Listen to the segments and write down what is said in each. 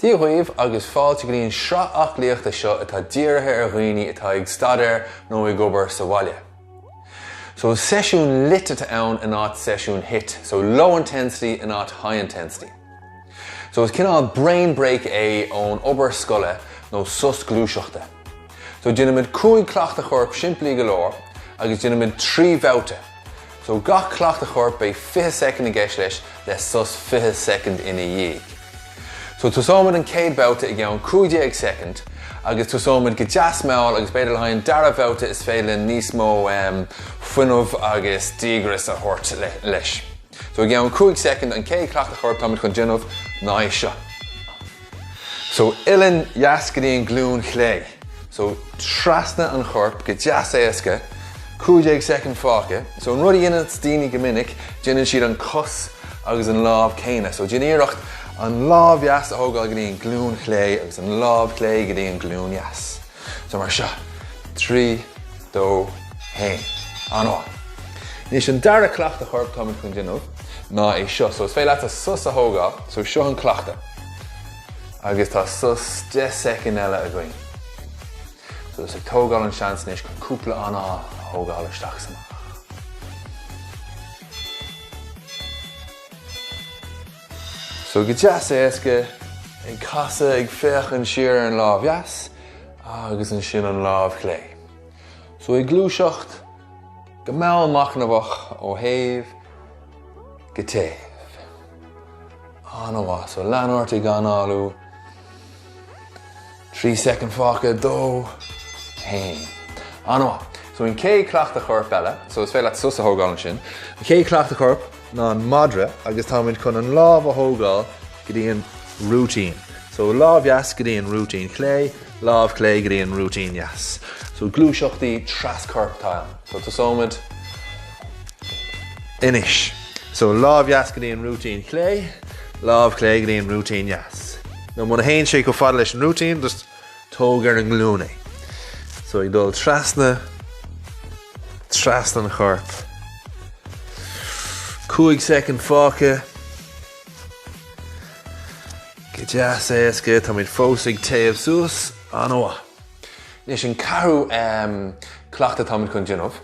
Dia dhaoibh agus fáilte go dtí an sraith aclaíochta seo atá dírithe ar dhaoine atá ag staidéar nó ag obair sa bhaile. So is seisiún lit atá ann in áit seisiún hit, so low intensity in áit high intensity. So is cineál brain break é ón obair scoile nó sos gluaiseachta. So déanfaimid cúig chleachtadh choirp simplí go leor agus déanfaimid trí bhabhta. So gach cleachtadh choirp beidh fiche soicind i gceist leis le sos fiche soicind ina dhiaidh. So tosóimid an chéad bhabhta i gceann cúig déag soicind agus tosóimid go deas mall agus b'fhéidir le haghaidh an dara bhabhta is féidir linn níos mó fuinneamh agus díograis a thabhairt leis. So i gceann 5 soicind an chéad chleachtadh choirp táimid chun déanamh ná é seo. So uillinn dheas go dtí an glúin chlé. So trasna an chorp go deas éasca, 15 soicind fágtha. So an rud a dhéanann daoine go minic déanann siad an cos agus an lámh céanna. So déan iarracht an lámh dheas a thógáil go dtí an glúin chlé agus an lámh chlé go dtí an glúin dheas. So mar seo, trí, dó, haon. An-mhaith. Anois an dara cleachtadh choirp táimid chun déanamh ná é seo. So is féidir leatsa sos a thógáil, so seo an cleachtadh. Agus tá sos 10 soicind eile againn. So just ag tógáil an seans anois chun cúpla anáil a thógáil isteach is amach. So go deas éasca, ag casadh ag féachaint siar ar an lámh dheas agus ansin an lámh chlé. So ag gluaiseacht go mall machnamhach ó thaobh go taobh. An-mhaith. So lean ort ag análú. 3 soicind fágtha 2, 1. An-mhaith. So an chéad chleachtadh choirp eile, so is féidir leat sos a thógáil ansin. An chéad chleachtadh choirp ná an madra agus táimid chun an lámh a thógáil go dtí an rúitín. So lámh dheas go dtí an rúitín chlé, lámh chlé go dtí an rúitín dheas. So gluaiseachtaí tras-choirp atá ann. So tosóimid. Anois. So, lámh dheas go dtí an rúitín chlé, lámh chlé go dtí an rúitín dheas. Nó muna théann sé chomh fada leis an rúitín, just tóg ar an nglúin é. So, ag dul trasna, trasna an chorp. Cúig soicind fágtha. Go deas éasca, táimid fós ag téamh suas. An-mhaith. Anois an ceathrú cleachtadh táimid chun déanamh.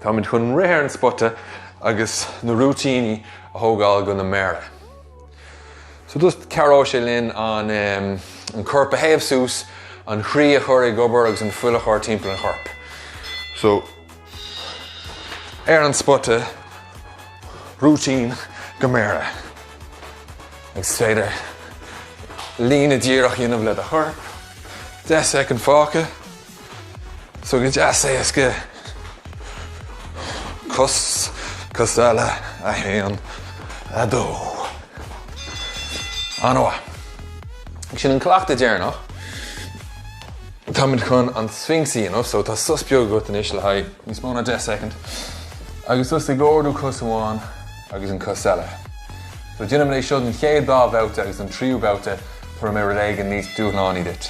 Táimid chun rith ar an spota agus na rúitíní a thógáil go na méara. So just cabhróidh sé linn an an corp a théamh suas, an chroí a chur ag obair agus an fuil a chur timpeall an choirp. So ar an spota, rúitín go méara. Agus is féidir líne díreach a dhéanamh le do chorp, 10 soicind fágtha. So go deas éasca cos cos eile 1, 2. Ana mhaith. Sin an cleachtadh deireanach. Táimid chun an Sphinx a dhéanamh so tá sos beag agat anois le haghaidh níos mó ná 10 soicind agus tosaigh ag ardú cos amháin agus an cos eile. So déanaimid é seo don chéad dá bhabhta agus don tríú babhta tabharfaidh mé rud éigin níos dúshlánaí duit.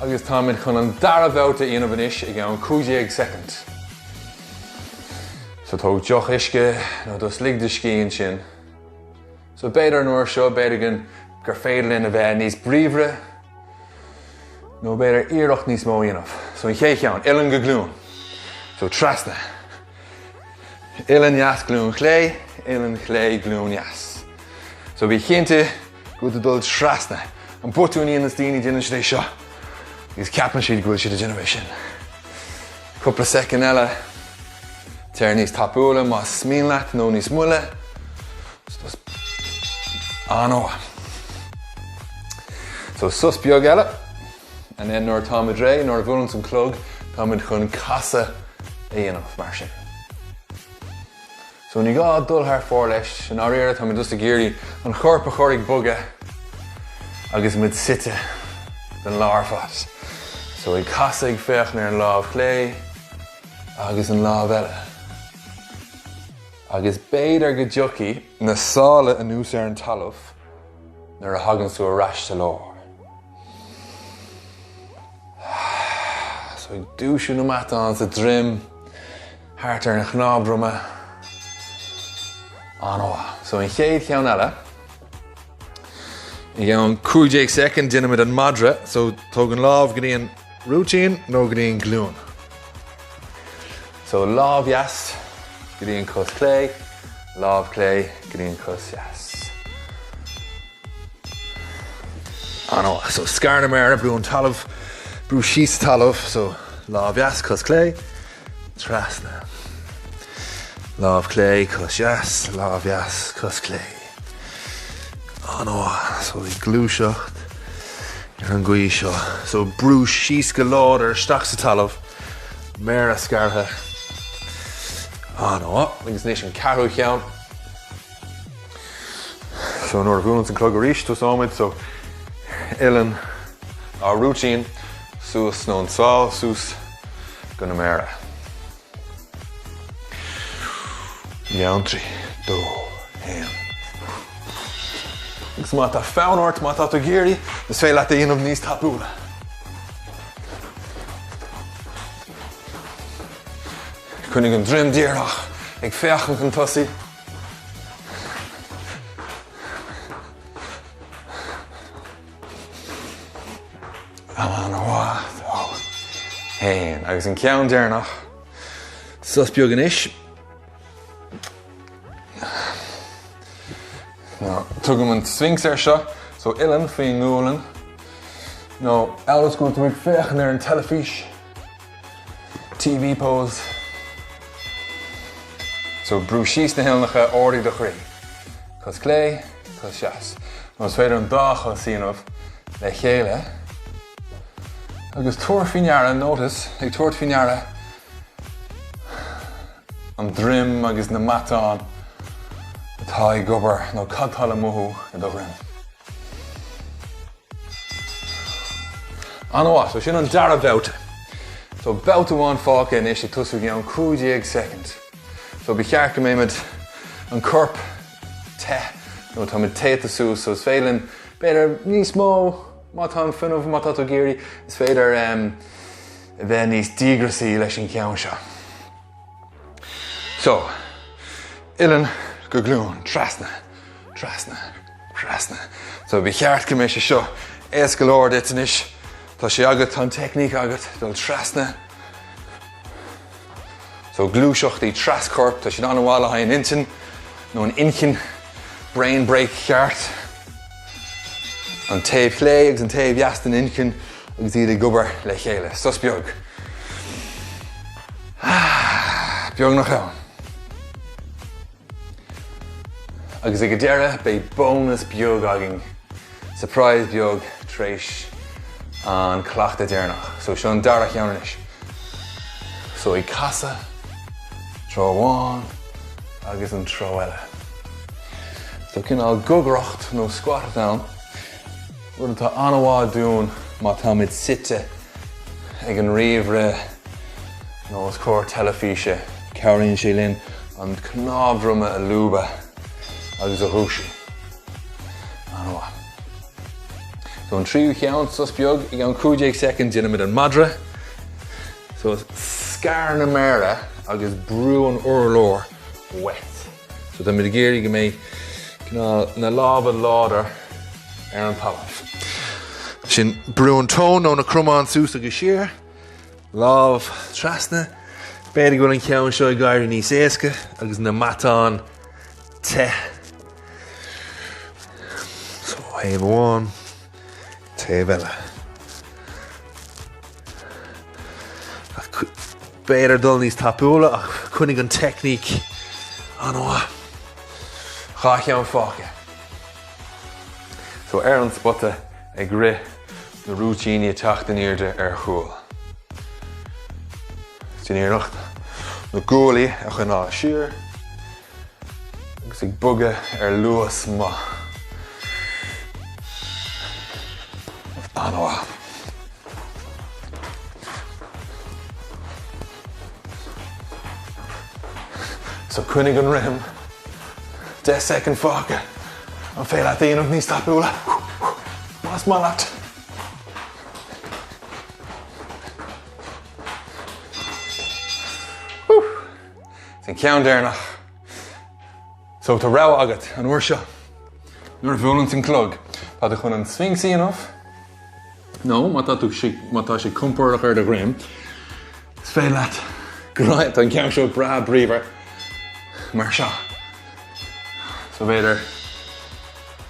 agus táimid chun an dara babhta a dhéanamh anois i gceann 15 soicind. So tóg deoch uisce nó just lig do scíth ansin. So b'fhéidir an uair seo b'fhéidir an gur féidir linn a bheith níos bríomhaire nó b'fhéidir iarracht níos mó a dhéanamh. So an chéad cheann, uilleann go glún. So trasna. Uilleann dheas glún chlé, uilleann chlé glún dheas. So bí cinnte go bhfuil tú ag dul trasna an botúin a dhéanann daoine déanann siad é seo agus ceapann siad go bhfuil siad ag déanamh é sin. Cúpla soicind eile téir níos tapúla más mian leat nó níos moille. An-mhaith. So sos beag eile. and then nuair atá muid réidh, nuair a bhuaileann an clog, tá muid chun casadh a dhéanamh mar sin. So ní gá dul thar fóir leis, i ndáiríre tá muid just ag iarraidh an chorp a chur ag bogadh agus muid suite den lá ar fad. So ag casadh ag féachaint ar an lámh chlé agus an lámh eile. Agus b'fhéidir go dtiocfaidh na sála anuas ar an talamh. Nuair a thagann tú ar ais sa lár, so ag dúisiú na matán sa droim thart ar an chnámh droma. An-mhaith. So an chéad cheann eile. I gceann 15 soicind déanaimid an madra. So tóg an lámh go dtí an. Rúitín nó go dtí an glúin. So lámh dheas go dtí an cos clé, lámh clé go dtí an cos dheas. An-mhaith. So scair na méara, brú an talamh, brú síos talamh, so lámh dheas, cos clé, trasna. Lámh clé, cos dheas, lámh dheas, cos clé. Oh no, so bhí gluaiseacht ar an gcaoi seo, so brúigh síos go láidir isteach sa talamh, méara scartha, oh no, agus anois an ceathrú cheann, so nuair a bhuaileanns an clog arís tosóidh muid, so uilleann, ár rúitín suas nó an tsál suas go na méara. Ann trí, dó, haon. Agus má tá fonn ort, má tá tú ag iarraidh, is féidir leat é a dhéanamh níos tapúla. Coinnigh an droim díreach ag féachaint chun tosaigh. An-mhaith dó haon agus an ceann deireanach sos beag anois. Tugaim an Sphinx air seo, so uilleann faoi an ngualainn. Nó amhail is go bhfuil tú ag féachaint ar an teilifís, TV pose. So brúigh síos na huilleannacha ardaigh do chroí. Cos clé. Cos dheas. Nó is féidir an dá chos a dhéanamh le chéile agus tabhair faoi ndeara, notice, ag tabhairt faoi ndeara an droim agus na matáin atá ag obair nó cad tá le mothú i do dhroim. An-mhaith, so sin an dara babhta. So babhta amháin fágtha anois ag tosú i gceann 15 soicind. So ba cheart go mbeimid an corp te, nó tá muid téata suas so is féidir linn b'fhéidir níos mó má tá an fuinneamh, má tá tú ag iarraidh, is féidir a bheith níos díograsaí leis an gceann seo. So, uilleann go glúin, trasna, trasna, trasna. So ba cheart go mbeidh sé seo éasca go leor duit anois, tá sé agat, tá an teicníc agat dul trasna. So gluaiseachtaí tras-choirp, tá siad an-mhaith le haghaidh an intinn, nó an inchinn, brain break cheart. An taobh chlé agus an taobh dheas den inchinn agus iad ag obair le chéile. Sos beag. Ah, beag nach ann. Agus ag an deireadh beidh bonus beag againn, surprise beag tar éis an cleachtadh deireanach. So seo an dara cheann anois. So ag casadh, treo amháin agus an treo eile. So cineál gogaireacht nó squat ann. rud atá an-mhaith dúinn má táimid suite ag an ríomhaire nó os comhair teilifíse. Cabhraíonn sé linn an cnámh droma a lúbadh agus a dhúisiú. An-mhaith. So an tríú cheann sos beag ag an gcúig déag soicind déanaimid an madra. So scar na méara agus brúigh an t-urlár uait. So táimid ag iarraidh go mbeidh cineál na lámha láidir ar an talamh. Ansin brúigh an tóin nó na cromáin suas agus siar, lámh trasna. B'fhéidir go bhfuil an ceann seo ag éirí níos éasca agus na matáin te. So taobh amháin. Taobh eile. B'fhéidir ag dul níos tapúla ach coinnigh an teicníc an-mhaith. Dhá cheann fágtha. So ar an spota ag rith na rúitíní, ag teacht in airde ar chúl. Déan iarracht na guaillí a choinneáil siar. agus ag bogadh ar luas maith. An-mhaith. So coinnigh an rithim, 10 soicind fágtha, is féidir leat é a dhéanamh níos tapúla. Más maith leat. So an ceann deireanach. So tá rogha agat an uair seo. Nuair a bhuaileann an clog, tá tú chun an Sphinx a dhéanamh, nó má tá sé compordach ar do dhroim, is féidir leat dul go dtí an ceann seo breá bríomhar mar seo. So b'fhéidir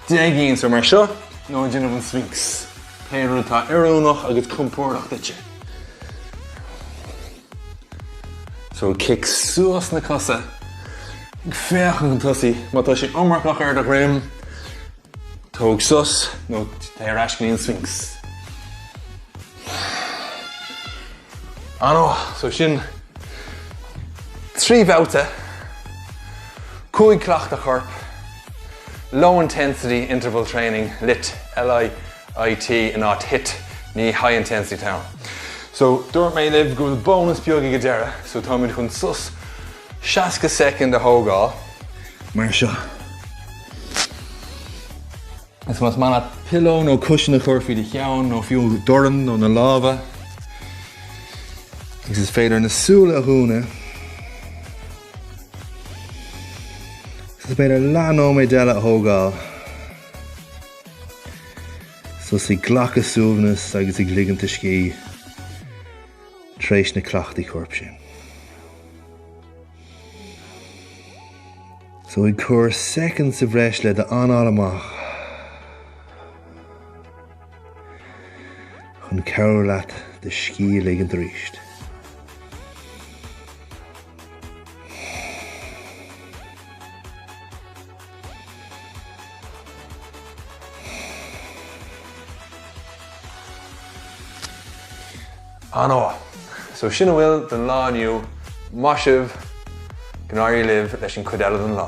déan é ansin mar seo nó ag déanamh an Sphinx. Pé rud atá oiriúnach agus compordach duitse. So cic suas na cosa. ag féachaint chun tosaigh. Má tá sé iomarcach ar do dhroim, tóg sos nó téigh ar ais go dtí an Sphinx. Anois, so sin trí bhabhta, cúig chleachtadh choirp, low intensity interval training, lit. LI. IT in áit hit, ní high intensity atá ann. So, dúirt mé libh go bhfuil bónas beag ag an deireadh, so táimid chun sos 60 soicind a thógáil mar seo. Más maith leat pillow nó cushion a chur faoi do cheann nó fiú do dhorn nó na lámha agus is féidir na súile a dhúnadh. Is féidir leath nóiméad eile a thógáil. Suas ag glacadh suaimhneas agus ag ligint a scíth tar éis na cleachtaí coirp sin. So ag cur soicind sa bhreis le d'anáil amach chun cabhrú leat do scíth a ligint arís. Anois! So sin a bhfuil don lá inniu, maith sibh, go n-éirí libh leis an chuid eile den lá.